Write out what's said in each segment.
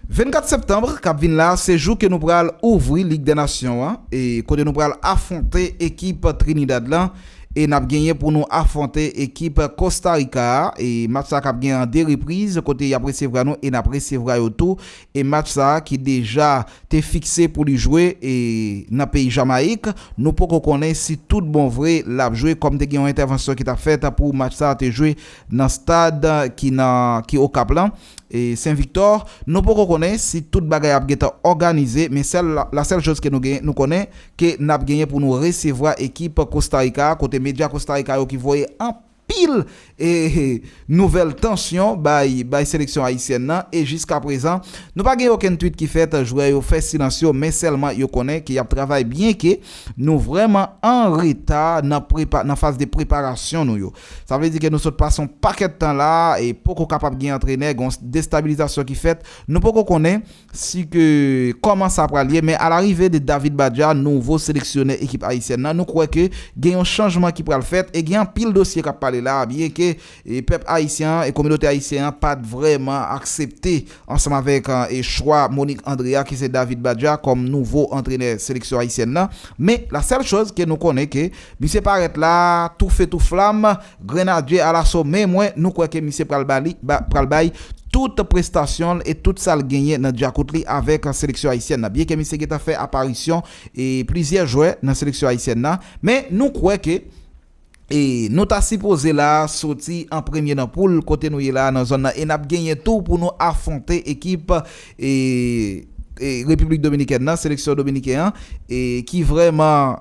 24 septembre kap vin la se jou ke nou pral ouvri lig dè nasyon an e kote nou pral afwonte ekip Trinidad lan e nap genyen pou nou afwonte ekip Costa Rica a e match sa kap gen an 2 repriz kote yap resevra nou e nap resevra yo tou e match sa ki deja te fikse pou li jwe e nan peyi Jamayik nou poko konnen si tout bon vre lap jwe kòm te gen yon entèvansyon ki tap fèt pou match sa te jwe nan stad ki nan ki Okap lan. Sen Viktò, nou poko konnen si tout bagay ap gentan òganize men sèl la sèl choz ke nou gen nou konnen ke nap genyen pou nou resevwa ekip Kosta Rika a kote medya Kosta Rika yo ki voye anpil nouvèl tansyon bay bay seleksyon Ayisyèn nan e jiska prezan nou pa gen okenn twit ki fèt jwè yo fè silans yo men sèlman yo konnen ke yap travay byen ke nou vrèman anreta nan prepa nan faz de preparasyon nou yo. Sa vle di ke nou sot pase yon pakèt tan la a e poko kapab gen antrenè, gen yon destabilizasyon ki fèt. Nou poko konnen si ke kòman sa pral ye, men alarive de David Badja, nouvo seleksyonè ekip ayisyèn nan, nou kwè ke gen yon chanjman ki pral fèt e gen anpil dosye k ap pale la a byen ke pèp ayisyen an e kominote ayisyen an pa t vrèman aksepte Ansanm avèk chwa Monique André a ki se David Badja kòm nouvo antrenè seleksyon ayisyèn nan. Men la sèl choz ke nou konnen ke misye parèt la tou fe tou flam, grenadye alaso men mwen nou kwè ke misye pral ba li pral bay tout prestasyon l e tout sa l genyen nan dyakout li avèk seleksyon ayisyèn nan. Byenke misye gentan fè aparisyon e plizyè jwè nan seleksyon ayisyèn nan men nou kwè ke E nou ta sipoze la soti an premye nan poul kote nou ye la nan zòn nan e nap genyen tou pou nou afwonte ekip Repiblik Dominikèn nan, seleksyon dominiken an ki vrèman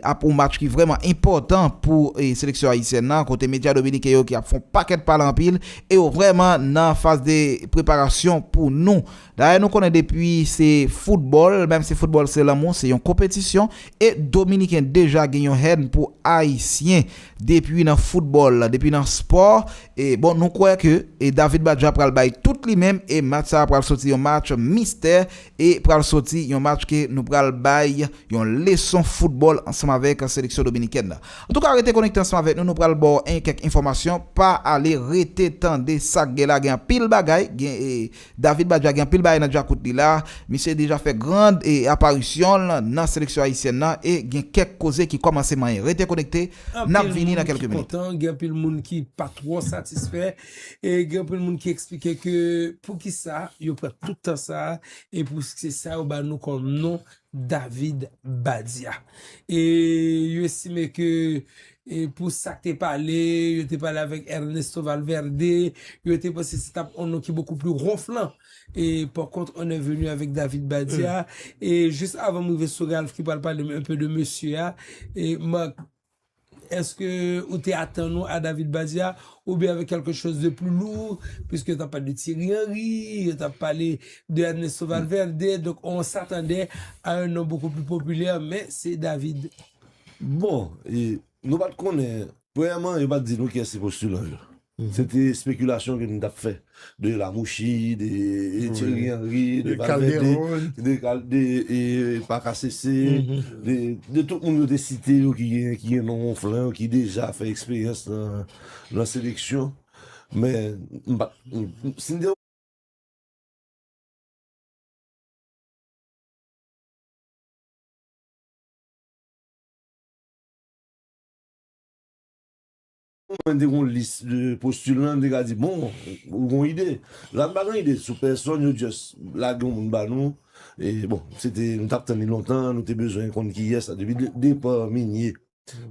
ap yon match ki vrèman enpòtan pou seleksyon ayisyèn nan kote medya dominiken yo ki ap fon pakèt pale anpil e yo vrèman nan faz de preparasyon pou nou. Dayè nou konnen depi se foutbòl, menm si foutbòl se lanmou, se yon konpetisyon, e dominiken deja gen yon hèn pou ayisyen depi nan foutbòl, depi nan spò, e bon nou kwè ke e David Badja pral bay tout li menm e match sa pral soti yon match mistè e pral soti yon match ke nou pral bay yon leson foutbòl ansanm avèk seleksyon dominikèn nan. Antouka rete konekte ansanm avèk nou, nou pral baw en kèk enfòmasyon, pa ale rete tande sak gen la gen anpil bagay, gen e. David Badja gen anpil bagay nan djakout li la, misye deja fè grand aparisyon l nan seleksyon ayisyèn nan e gen kèk koze ki kòmanse manyen. Rete konekte, n ap vini nan kèlke minit. Anpil moun ki kontan, gen anpil moun ki pa twò satisfè e gen anpil moun ki eksplike ke poukisa yo pran tout tan sa e pou se sa yo ba nou kòm non David Badia. E yo estime ke pou sa k te pale, yo te pale avèk Ernesto Valverde, yo te panse se t ap yon non ki bokou pli ronflan. E par contre on est venu avec David Badia. E jis avan m rive sou Ralph ki pral pale m enpe de mesye a, Marc Eske ou te atann ou a David Badia ou byen avèk kèlke choz de pli lou, piske yo tap pale de Thierry Henry, yo tap pale de Ernesto Valverde, donk on s'attendait a un nom beaucoup plus populaire, men se David. Bon, nou pat konnen, premyèman yo pat di nou kiyès se postilan yo. Se te spekilasyon ke m tap fè de Lamouchi, de Thierry Henry, de Valverde, de Parker Cesse, de tout moun yo te site yo ki gen non wonflan yo, ki deja fè eksperyans nan seleksyon. Ou mande yon lis de postilan li ka di bon ou gon ide. La m pa gen ide sou pèsòn yo just lage yon moun ba nou e bon se te nou tap tann li lontan nou te bezwen konn kiyès la depi depa Migné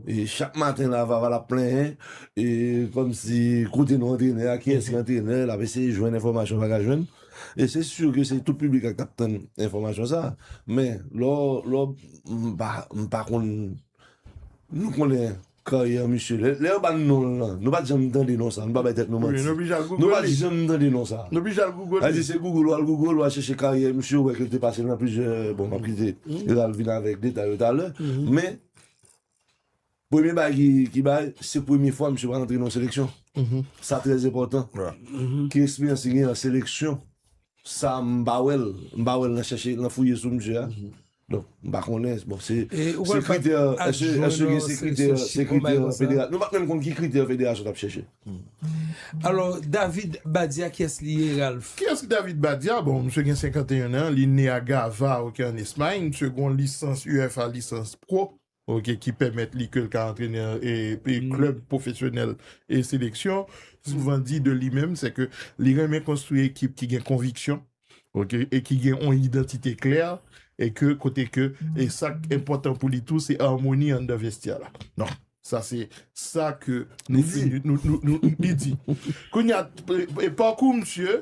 e chak maten la Vava lap plenyen e kòmsi kote nou antrenè a kiyès ki antrenè lap eseye jwenn enfòmasyon pa ka jwenn e se sur ke se tout piblik la ki tap tann enfòmasyon sa men lò lò m pa konn nou konnen. Karyè misye. Lè yo ban non l lan, nou pa t janm tande non sa a. Nou pa bay tèt nou manti. Nou pa t janm tande non sa a. Nou bije al Google li. Sa di se Google ou al Google ou al chèche karyè misye ou wè ke l te pase nan plizyè, bon m ap kite yo al vin avèk detay yo talè. Men, premye bagay ki bay, se premye fwa misye pral antre nan yon seleksyon. Sa trè enpòtan. Ki eksperyans li gen nan seleksyon, sa m pa wè l. M pa wè l nan chèche, nan fouye sou misye a. Donk, m pa konnen, bon se kritè, èske gen se kritè, se kritè federasyon, nou pa menm konn ki kritè federasyon t ap chèche. Alò, David Badia kiyès li ye, Ralph? Kiyès ki David Badia? Bon, misye gen 51 an, li ne a Gavà, ok, an Espay, misye gen yon lisans UFA, lisans pro. ok, ki pèmèt li ke l ka antrenè klèb pwofesyonèl e seleksyon, souvan di de li menm, se ke li renmen konstwi ekip ki gen konviksyon, ok, e ki gen yon idantite klè, e ke kote ke, e sa k enpòtan pou li tou, se amoni anndan vestyè la. Donk, sa se sa ke nou di, li di. Kounye a, pakou misye,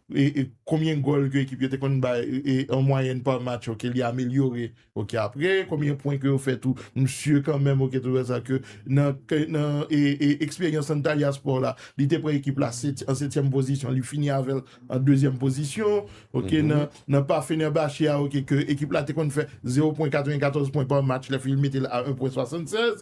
Konbyen gòl ke ekip yo te konn bay an mwayèn pa match ok li amelyore ok apre konbyen pwen ke yo fè tou msye kanmenm ok tou wè sa ke nan eksperyans Antalyaspò la li te pran ekip la an setyèm pozisyon li fini avèl an dezyèm pozisyon ok nan pa Fenerbahçe a ok ke ekip la te konn fè zewo pwen 94 pwen pa match lè fini li metel a 1 pwen 76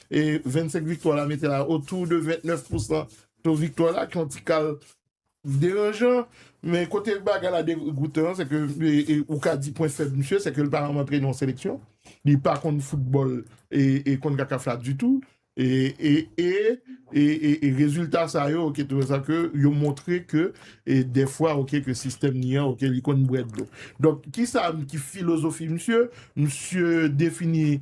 e 25 viktwa la mete la otou de 29 pousan to viktwa la ki yon ti kal deranjan men kote bagay la degoutan an se ke ou ka di pwen fèb misye se ke li pa janm antrene yon seleksyon li pa konn foutbòl e konn kakaf la ditou e rezilta sa yo oke tou sa ke yo montre ke defwa oke ke sistèm ni an oke li konn bwè dlo donk kisa ki filozofi misye misye defini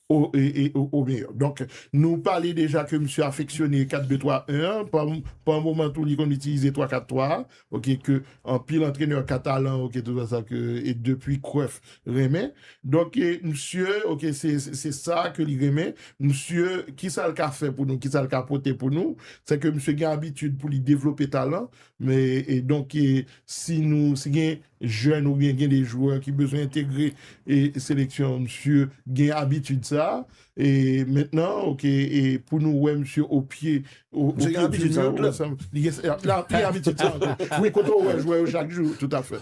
Au meilleur. Donk, nou pale deja ke misye afeksyone 4-2-3-1 an, pa moman tou li konn itilize 3-4-3 a, ok, ke anpil antrenè katalan, ok, tout sa sa ke e depi Cruyff renmen. Donk, misye, ok, se sa ke li renmen. Misye, kisa l ka fè pou nou, kisa l ka pote pou nou, se ke misye gen abitid pou li devlope talan, E donk si nou, si gen jèn ou byen gen de jwè ki bezwen entegre e seleksyon an msye gen abitid sa a. E mentnan ok e pou nou wè msye o pye o pye di nou. Msye gen abitid sa a. Li gen abitid sa a. Wi kote ou wè jwè yo chak jou. Toutafè.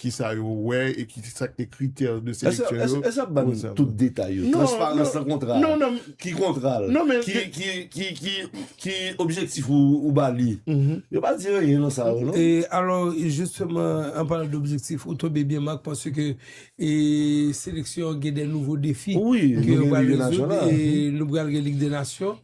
Ki sa yo wè e ki sa ki te kritè de seleksyon yo. Èske w ap ban n tout detay yo? Transparans nan kontra a? Ki kontra l? Ki objektif ou ba li? Yo pa di anyen nan sa yo non. E alò jisteman an palan de objektif ou tonbe byen Marc paske seleksyon gen de nouvo defi ke yo pral rezoud e nou pral gen lig de nasyon.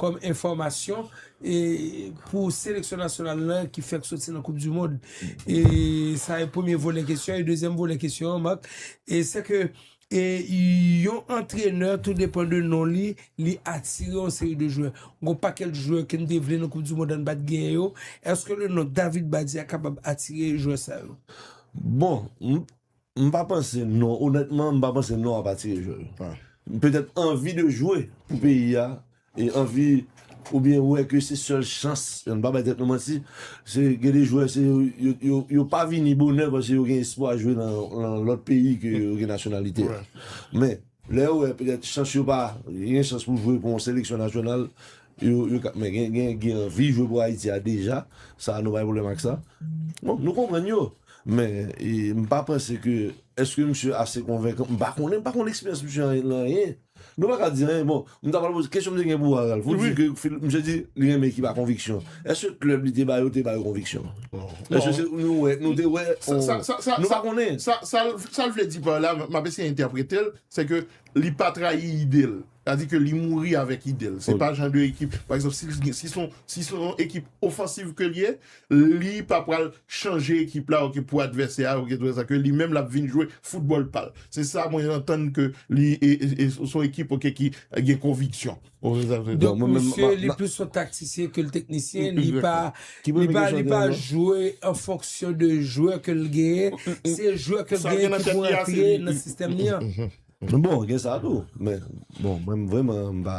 Kòm enfòmasyon, pou seleksyon nasyonal lan ki fèk soti nan koup di mond, e sa e premye volè kesyon, e dezyèm volè kesyon an Marc, e se ke yon antrenè tou depan de non li, li atire yon seri de jwè. Gon pakèt jwè ke n te vle nan koup di mond an n pa t genyen yo, èske le non David Badia kapab atire jwè sa yo? Bon, M pa panse non, onètman m pa panse non ap atire jwè yo. Petèt anvi de jwe pou peyi a, e anvi oubyen wè ke se sèl chans, ann pa bay tèt nou manti, se gen de jwè se yo pa vini bonè paske yo gen espwa jwe nan lòt peyi ke yo gen nasyonalite a. Men. Lè yo wè petèt chans yo pa gen chans pou jwe pou yon seleksyon nasyonal, yo ka men gen ki anvi jwe pou Ayiti a deja, sa nou pa gen pwoblèm ak sa. Bon, nou konprann yo, men m pa panse ke èske misye ase konvenkan, m pa konnen, m pa konn eksperyans misye nan anyen. Nou pa ka di anyen bon. M ta pral poze, kesyon m te gen pou Ralph, ou di ke misye di li renmen ekip a konviksyon. Eske klèb li te ba yo te ba yo konviksyon? Eske se nou wè, nou te wè, nou pa konnen. Sa l vle di pa la, m ap eseye entèprete l, se ke li pa trayi ide l. Sa di ke li mouri avèk ide l. Se pa jan de ekip, pa egzanp, si son ekip ofansiv ke l ye, Li pa pral chanje ekip la ok pou advèsè a ok tout sa ke li menm lap vin jwe foutbòl pal. Se sa mwen antann ke li e son ekip ok ki gen konviksyon. Donk misye li plis yon taktisyen ke l teknisyen li pa li pa li pa jwe an fonksyon de jwè ke l genyen se jwè ke l genyen ki pou rantre nan sistèm li an. Bon gen sa tou men bon mwen m vreman m pa.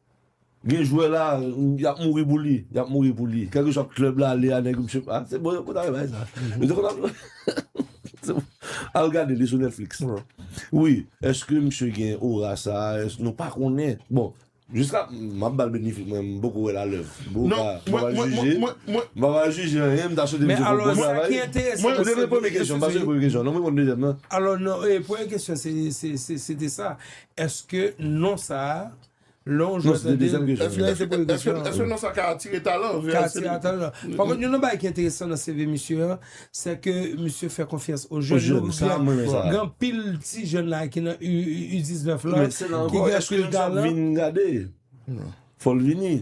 Gen jwè la yap mouri pou li, yap mouri pou li. Kèlkeswa klèb la ale a nèg yo msye pa, se bon yo konn al bay sa. Yo te konn al bay. Al gade li sou Netflix. Wi, eske msye gen ora sa, eske nou pa konnen. Bon, jiska map bal benefik mwen m poko wèl a lèv. Mwen pa pral jije, mwen pa pral jije anyen, m ta swete msye fè bon travay. Ou te reponn premye kesyon, m pa soti premye kesyon non, m reponn dezyèm nan. Alò non, premye kesyon se te sa, eske non sa Lè w jwe tande l. Èske non sa ka atire talan? Ka atire talan. Pa kont youn nan bagay ki enteresan nan CV misye an, sè ke misye fè konfyans o jèn. Yo gen anpil ti jèn la ki nan U19 la ki gen anpil talan. Fò l vini.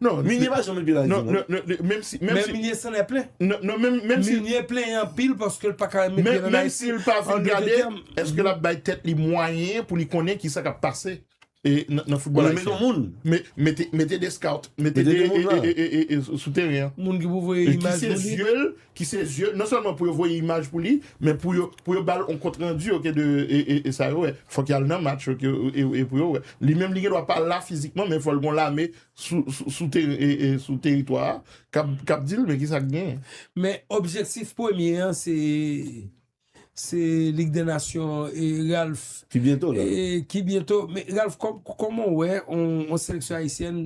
Minye pa janm anpil Ayiti non. Menm si. Men Minye san lè plen. Non menm si. Minye plen anpil paske l pa ka met pye nan Ayiti. Menm si l pa vin gade, èske l ap bay tèt li mwayen pou li konnen ki sa k ap pase? nan football ayisyen. Ou renmen nou moun. Mete de scout. Mete de moun la. Sou teren an. Moun ki pou voye imaj pou li. Ki se zye l. Non selman pou yo voye imaj pou li. Men pou yo bal on kont rendi ok de sa yo wè. Fok yal nan match ok e pou yo wè. Li menm li gen dwa pa la fizikman men fol gon lame sou teritwa a. Kap dil men ki sak gen. Men objektif premye an se. Se Ligue des Nations e Ralph. Ki byento la. Ki byento. Men Ralph kòman ou wè yon seleksyon ayisyèn,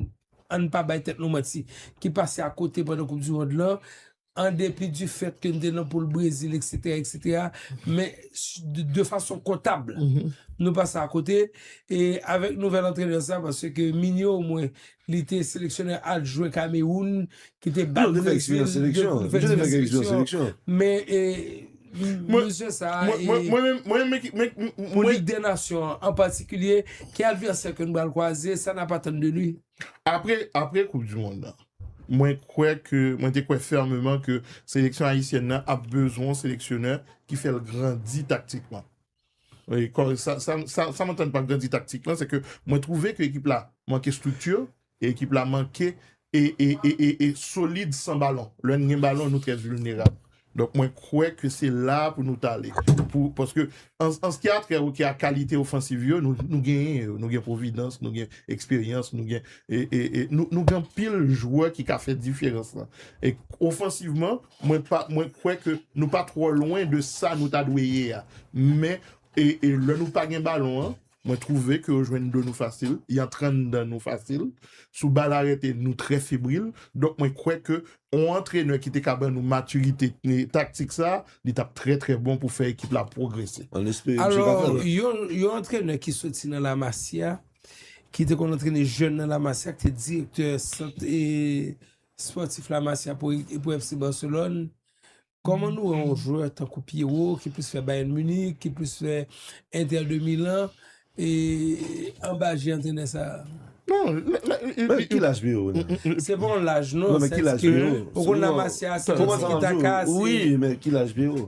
ann pa bay tèt nou manti, ki pase a kote pandan koup du mond lan, an depi du fèt ke n te nan poul Brezil eksetera eksetera, men de fason kontab nou pase a kote e avèk nouvèl antrenè sa paske ke Minio o mwen Li te seleksyonè adjwen Kamewoun ki te bat Brezil 2 pou li fè diferans seleksyon. Men mesye sa a e pou Lig dè Nasyon an an patikilye, ki advèsè ke nou pral kwaze, sa n ap atann de li? Apre koup du mond lan, mwen kwè ke, mwen te kwè fèmeman ke seleksyon ayisyèn nan ap bezwen yon seleksyonè ki fè l grandi taktikman. Sa m antann pa grandi taktik lan se ke mwen twouve ke ekip la manke strikti e ekip la manke e solid san balon. Lè n gen balon nou trè vilnerab. Donk mwen kwè ke se la pou nou ta ale. Paske an ske a trè oke a kalite ofansiv yo nou genyen yo. Nou gen Providence, nou gen eksperyans, nou gen anpil jwè ki ka fè diferans lan. Ofansivman Mwen kwè ke nou pa twò lwen de sa nou ta dwe ye a. Men, lè nou pa gen balon an, mwen twouve ke yo jwenn do nou fasil, y antre anndan nou fasil. Sou bal arete, nou trè febril. Donk mwen kwè ke yon antrenè ki te ka ban nou matirite taktik sa a, li t ap trè trè bon pou fè ekip la pwogrese. Alò, yon antrenè ki soti nan La Masia, ki te konn antrene jèn nan La Masia, ki te direktè sant Spòtif La Masia pou epou FC Barcelone, kòman nou wè yon jwè tankou Pierrot ki plis fè Bayern Munich, ki plis fè Inter de Milan e anba je antrenè sa a? Men ki laj Pierrot nan men? Se pa yon laj non, sèske ou konn La Masia se yon tiki taka, se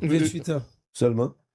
28 ans. Sèlman?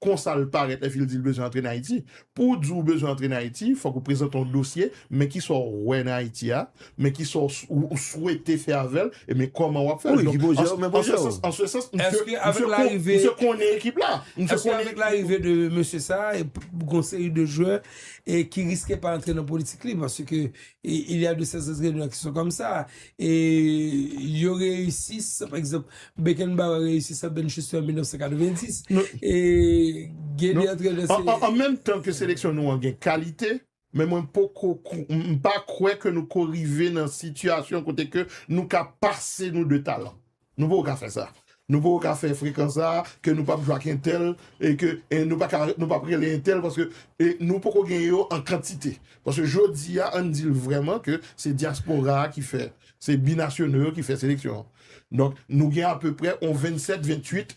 Konsa l parèt lè fi l di l bezwen antre nan Ayiti. Pou w di w bezwen antre nan Ayiti, fòk ou prezante yon dosye, men kisa w wè nan Ayiti a, men kisa w swete fè avè l, e men kòman w ap fè l. Donk, an sè sans, an sè sans, misye konnen ekip la. Èske avèk larive de mesye sa a, gon seri de jwè ki riske pa antre nan politik li? Paske il y a de ces entraineurs qui sont comme ça. E yo reyisi sa, pa egzanp, Beckenbauer reyisi sa Bernd Schuster an 1990. E gen de antrenè se. An menm tan ke seleksyon nou an gen kalite, men mwen poko, m pa kwè ke nou ko rive nan sitiyasyon kote ke nou ka pase nou de talan. Nou poko ka fè sa. Nou poko ka fè frekans sa a ke nou pap jwe ak entèl e ke nou pa ka nou pap rele entèl paske e nou poko gen yo an kantite. Paske jodi a an di l vrèman ke se dyaspora a ki fè se binasyonal yo ki fè seleksyon an. Donk nou gen apeprè on 27, 28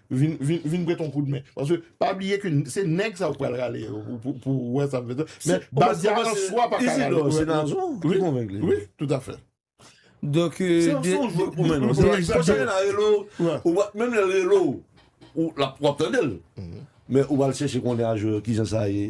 vin vin prete yon koudmen paske pa bliye ke se nèg sa ou pral rale yo pou ou wè sa vle di men baz la an swa pa ka rale Isidor se Nazon ki konvenk li wi tout a fè donk se yon son jwèt pou mwen se yon son jwèt pou mwen ou wap menm lè l rele w ou la wap tande l men ou pral chèche konnen a jwè yo kijan sa ye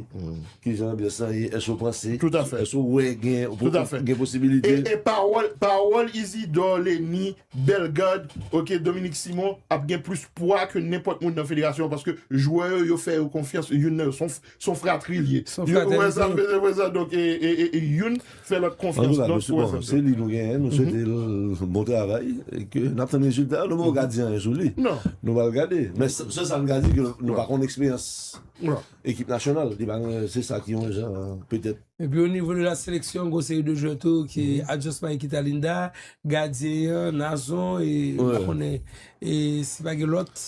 kijan anbyans lan ye èske ou panse tout a fè èske ou wè gen posibilite e pawòl pawòl Isidor Leni Bellegarde, ok Dominique Simon ap gen plis pwa ke nenpòt moun nan federasyon an paske jwè yo yo fè yo konfyans youn nan yo son fratri li ye ou wè sa mesye wè sa donk youn fè lòt konfyans non ou wè sa se li nou genyen nou swete l bon travay e ke n ap tann rezilta yo nou poko ka di anyen sou li nou pral gade men sèl sa nou ka di ke nou pa konn eksperyans ekip nasyonal li pa gen se sa ki yon jan petèt. Epi o nivo de la seleksyon gon seri de jwè tou ki Adjos Mike Kitalinda, gadyen an, Nazon e pa konnen e si pa gen lòt.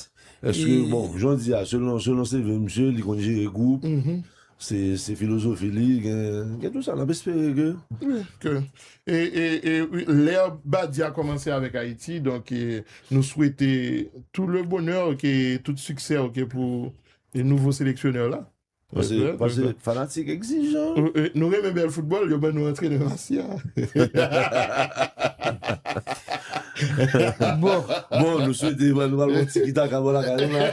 Eske bon, jan w di a, selon selon CV misye, li konn jere gwoup, se filozofi li, gen tou sa, n ap espere ke. Wi, ke e lè Badia kòmanse avèk Ayiti, donk nou swete tou le bonè ke tout siksè ke pou nouvo seleksyonè la. Pase fanatik egzijan. Nou renmen bèl foutbòl, yo ban nou antrenè Masya. Bon, bon nou swete nou pral wè tiki taka bò lakay nou la.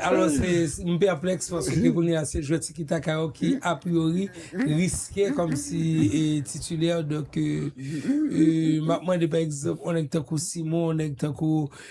Alò se m pèplèks paske kounye a se jwè tiki taka yo ki apriori riske kòm si titilè donk m ap mande pa egzanp yon nèg tankou Simon, yon nèg tankou.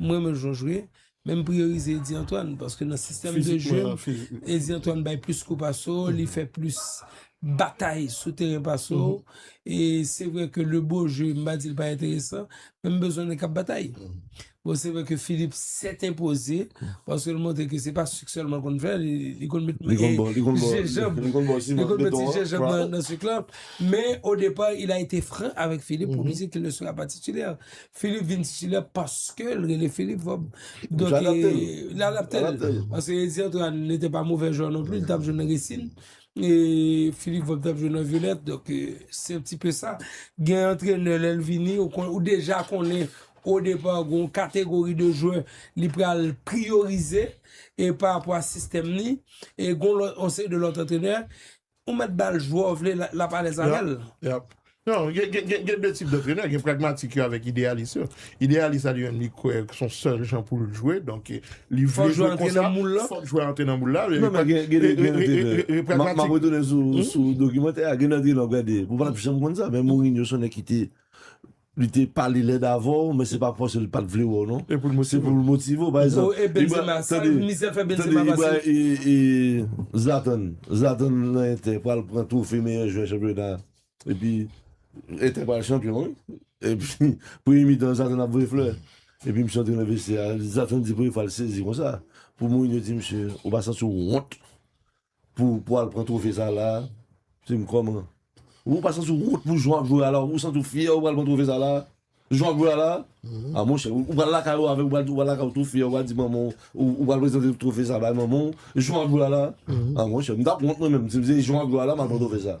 M renmen l jan w jwe, men m priyorize Eddy Antoine paske nan sistèm de jwe m, Eddy Antoine bay plis kou pase w, li fè plis batay sou teren pase w. E se vre ke le beau jeu, m pa di l pa enteresan, men m bezwen nèg k ap batay. Bon, se vre ke Philippe sèt enpoze, paske l montre ke se pa sik sèlman l konn fè, li konn met je janb, li konn met ti je janb nan sik lan. Men, o depa, il a ete fran avèk Philippe pou li di ke il ne sera pas titulaire. Philippe vin titulè paske l rele Philippe fò donk l adapte l paske Eddy Antoine n ete pa movè jwè non pli l tap jwe nan Resin e Philippe fò tap jwe nan Violette donk se yon ti pe sa gen antrenè lè l vini ou deja konnen o depa gon kategori de jwè li pral priyorize e pa apwa sistèm ni e gon lòt on seri de lòt antrenè Ou mèt bal jwè w vle lap alèz avèl. Yap. Non, gen 2 tip dantrenè, gen pragmatik yo avèk ideyalis yo. Ideyalis la li menm li kwè son sèl jan pou l jwe, donk li vle jwe konsa, fòk jwè a antre nan moul la. Non men gen dantrenè, map retounen sou dokimantè a, gen dantrenè wap gade, ou pap janm konn sa, men Mourinho son nèg ki te Li te pale lèd avè w men se pa paske li pat vle wè w non. Se pou l motive w pa egzanp. Bro e Benzema sa misye fè Benzema pase. E Zlatan, Zlatan nan Inter pral pran twofe meyè jwè chanpyona epi Inter pral chanpyon wi. Epi premye mitan Zlatan ap voye flè. Epi misye antre nan vestye a, Zlatan di premye fwa l sezi konsa pou Mourinho di misye ou pa santi w wont Pou pou al pran trofe sa la a? Di m kòman? Ou pa santi w wont pou jan w ap jwe a la a? Ou santi w fyè ou pral pran trofe sa la a? Jan w ap jwe a la a? A monchè, ou pral lakay ou avè l, ou pral lakay ou tou fyè, ou pral di manman w, ou pral prezante trofe sa a bay manman w, jan w ap jwe a la a? A monchè, m t ap wont mwen menm si m se jan w ap jwe a la a m al pran trofe sa a.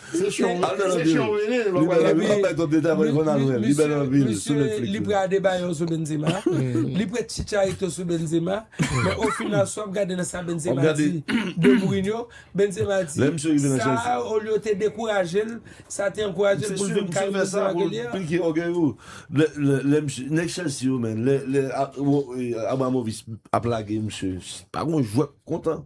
Se chyon wi. Al nan nan vire. Li bel anpil map bay trop detay aprè konn al wèl li bel anpil sou Netflix. Misye li pre Adebayor sou Benzema, li pre Chicharito sou Benzema, men o final si wap gade nan sa Benzema di de Mourinho, Benzema di sa olye te dekourajel sa te ankourajel poul vin kay Benzema ke li a. Misye sure misye fè sa pou l pike ògèy ou. Lè nèg Chelsea yo men lè Abramovich ap lage misye pa gon jwè k kontan.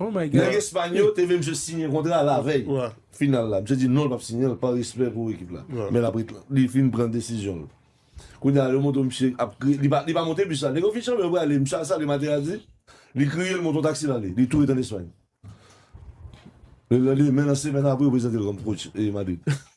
Nèg Espany yo te vle misye siyen kontra lavèy final la. Misye di non l pap siyen l pa respè pou ekip la. Men l ap ret li fin pran desizyon l. Kounye a yo montre misye ap kriye. Li pa li pa monte bis la. Nèg yo fin chanpyon yo prale. Misye al salye Materazzi. Li kriye l monte yon taksi l ale. Li tou ret an Espany. Lelendemen nan semèn apre yo prezante l kòm coach Madrid.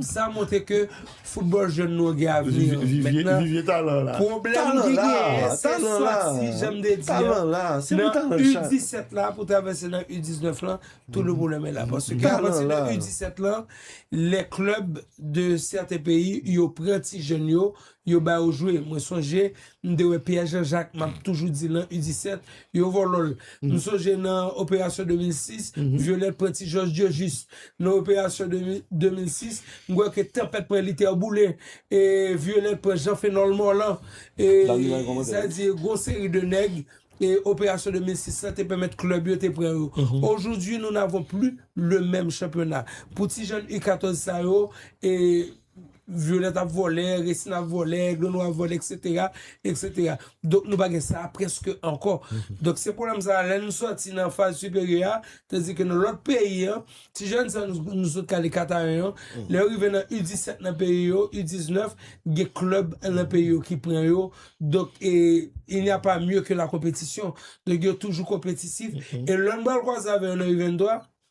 Sa montre ke football jèn nou an gen avni. Vivye talan la. Pwoblèm ki genyen se sòti janm te di an nan U17 la pou travèse nan U19 lan tout le pwoblèm e la. Paske apati de U17 lan le club de sèten peyi yo pran ti jèn yo Yo ba yo jwe mwen sonje m te wè Pierre Jean Jacques map toujou di lan u 17 yo vòlòl m sonje nan operasyon 2006 Violette pran ti jòj Diojis nan operasyon 2006 m kwè ke tanpèt pran Luther boule e Violette pran Jean Phenol Morlan e sa di gon seri de nèg e operasyon 2006 lan te pèmèt club yo te pran yo aujourd'hui nous n'avons plus le même championnat pou ti jèn u 14 sa yo e Violette ap vòlè, Racine ap vòlè, Aigle Noir ap vòlè etc. Etc. Donk nou pa gen sa a prèske ankò. Donk se pwoblèm sa a lè nou sòti nan faz siperyè a, tandis ke nan lòt peyi an, ti jèn sa nou sot kale Kataen an, lè yo rive nan U17 nan peyi yo, U19, gen klèb nan peyi yo ki pran yo. Donk e il n'y a pas mieux que la compétition. Donk yo toujou konpetisif. E lè nou pral kwaze avè yo nan U23,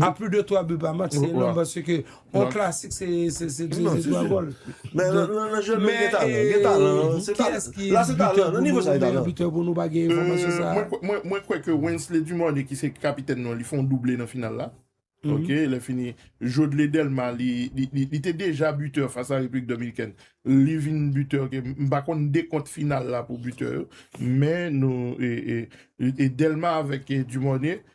A plus de 3 buts par match se enorm paske yon klasik se 3 gòl. Men nan jwè menm gen talan, gen talan. Kiyès ki meyè bitè pou nou pa gen enfòmasyon sa a? Mwen kwè ke Wensley Dumornay ki se kapitèn nou an li fè yon double nan final la. Ok lè fini Jodley Delma li te deja bitè fas a Repiblik Dominikèn li vin bitè ok m pa konn dekont final la pou bitè yo men nou e Delma avèk Dumornay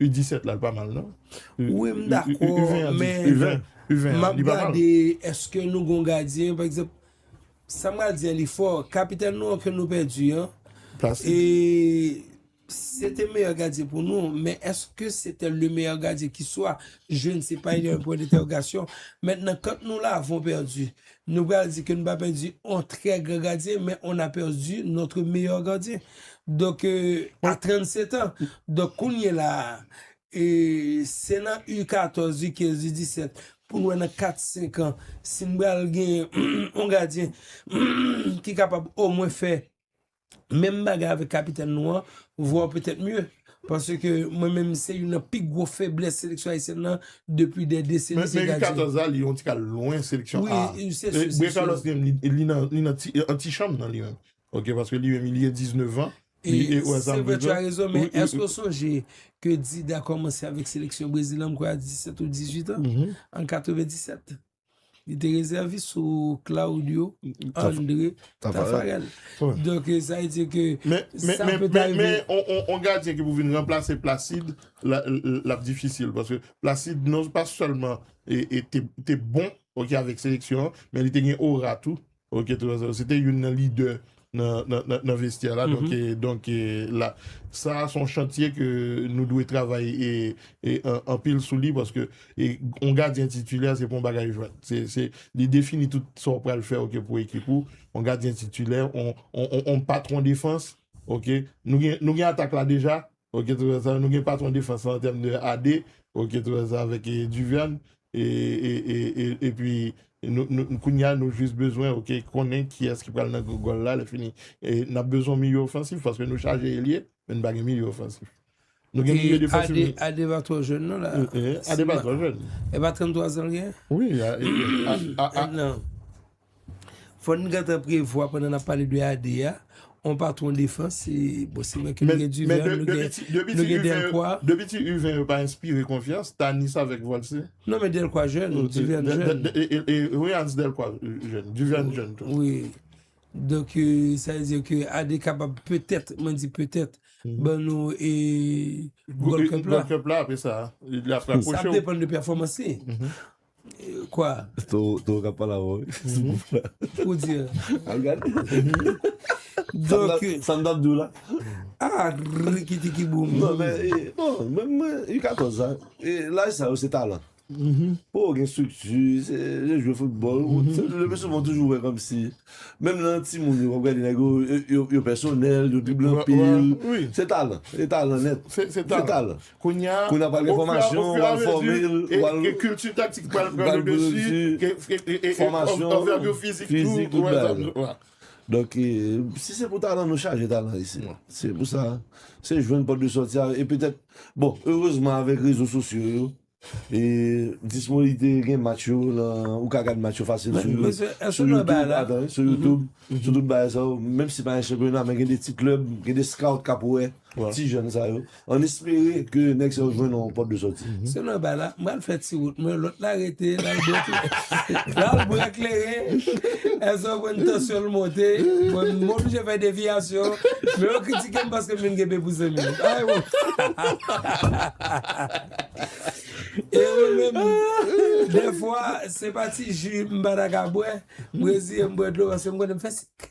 U 17 la li pa mal nan. Wi m dakò men map gade eske nou gon gadyen pa egzanp sa m pral di an li fò kapitèn nou an ke nou pèdi an se te meyè gadyen pou nou men eske se te le meyè gadyen ki swa je ne se pa il y a un point d'interrogation mèt nan kant nou la avon pèdi Nou pral di ke nou pa pèdi on trè gran gadyen, men on a pèdi notre meilleur gardien. Donk, a 37 an. Donk, kounye la a, se nan U14, U15, U17, pou nou wè nan 4, 5 an, si nou pral gen on gadyen ki kapab omwen fè Menm bagay avèk kapitèn nou an, voir peut-être mieux. Paske mwen menm se youn nan pi gwo feblès seleksyon ayisyèn nan depi dè deseni se gadyen. Men U14 la li yon ti kal lwen seleksyon A. Wi, se sou. Brè Carlos li menm li nan antichanm nan li menm. Ok paske li menm li gen 19 ans. Se vre tu as raison men eske ou sonje ke Dida kòmanse avèk seleksyon Brezil an mwen kwè a 17 ou 18 ans an 97. Li te rezèvis sou Claudio André Tafarel. Donk e sa e di ke... Men, men, men, men, men, on gadyen ki pou vin ranplase Placide, l ap difisil. Paske Placide non pa sèlman te bon, ok, avèk seleksyon, men li te gen ora tou. Ok tout sa se te youn nan lidè nan vestyè la donk la sa se yon chantye ke nou dwe travay anpil sou li paske yon gadyen titilè se pa yon bagay jwèt li defini tout sa ou pral fè pou ekip ou yon gadyen titilè yon patwon defans ok nou gen atak la deja Ok tout sa nou gen patron defans lan an tèm de AD ok tout sa avèk Duvian e pi nou kounya nou jis bezwen ok konnen kiyès ki pral nan gòl la lè fini nap bezwen yon milieu ofansif paske nou chaje elye men nou pa gen milieu ofansif nou gen milieu defansif nou e AD pa twò jèn non la AD pa twò jèn e pa 33 zan l gen wi a nan. Fò n gentan prevwa pandan n ap pale de AD a, yon patwon defans, bon se vre ke nou gen Duverne, nou gen Delcroix. Depi ti U20 yo pa enspire konfyans, Tanis avèk Volcy. Non men Delcroix jèn, Duverne jèn. E wi Hans Delcroix jèn, Duverne jèn tou. Wi. Donk sa vle di ke AD kapab petèt, mwen di petèt, ban nou e Gold Cup la. Gold Cup la apre sa. Sa ap depann de pèfòmans li. Kwa? Towo kap pale avèw wi. Sou pouf la. Pou di an. Al gade. Donk. Sa m tap di w la. Ah rikiti ki boum. Non men e. Bon menm mwen u 14 an. E laj sa yo se talan. Fò w gen strikti. Se jan jwe foutbòl. Le pi souvan toujou wè kòmsi. Menm nan timoun yo wap gade nèg yo. Yo pèsonèl. Yo dribble anpil. Se talan. Se talan nèt. Se talan. Kounye a, Kounye a pral gen fòmasyon, o fur et à mesure, wal fòme l, ke kilti taktik pral pran pral le pran le desi, desi, e, e, fòmasyon, anvètu fizik tou, fizik, tout bagay yo. wè sa m. Donk, si se pou talan, nou chaje talan isit. Se pou sa, se jwenn pòt de sòti a, e petèt, bon, erezman avèk rezo sosyo yo, e disponibite gen match yo nan, ou ka gad match yo fasil sou, Men, mesye, èske sou nou wè bagay YouTube, la? atan wi, sou YouTube, sou tout bagay sa yo, menm si se pa nan chanpyona, men gen de ti klèb, gen de scout k ap wè ti jèn sa yo. An espere ke nèg sa yo jwenn yon pòt de sòti. Se mwen bay la, m pral fè ti wout mwen, lòt la rete l al bwè kleren. L al bwè kleren, èske w konn tansyon l monte, mwen m oblije fè deviyasyon, men yo kritike m paske m vin gen pepou zanmi. E mwen menm, dèfwa se pa ti ji m pa ta ka bwè, m reziye m bwè dlo paske m konnen m fè sik.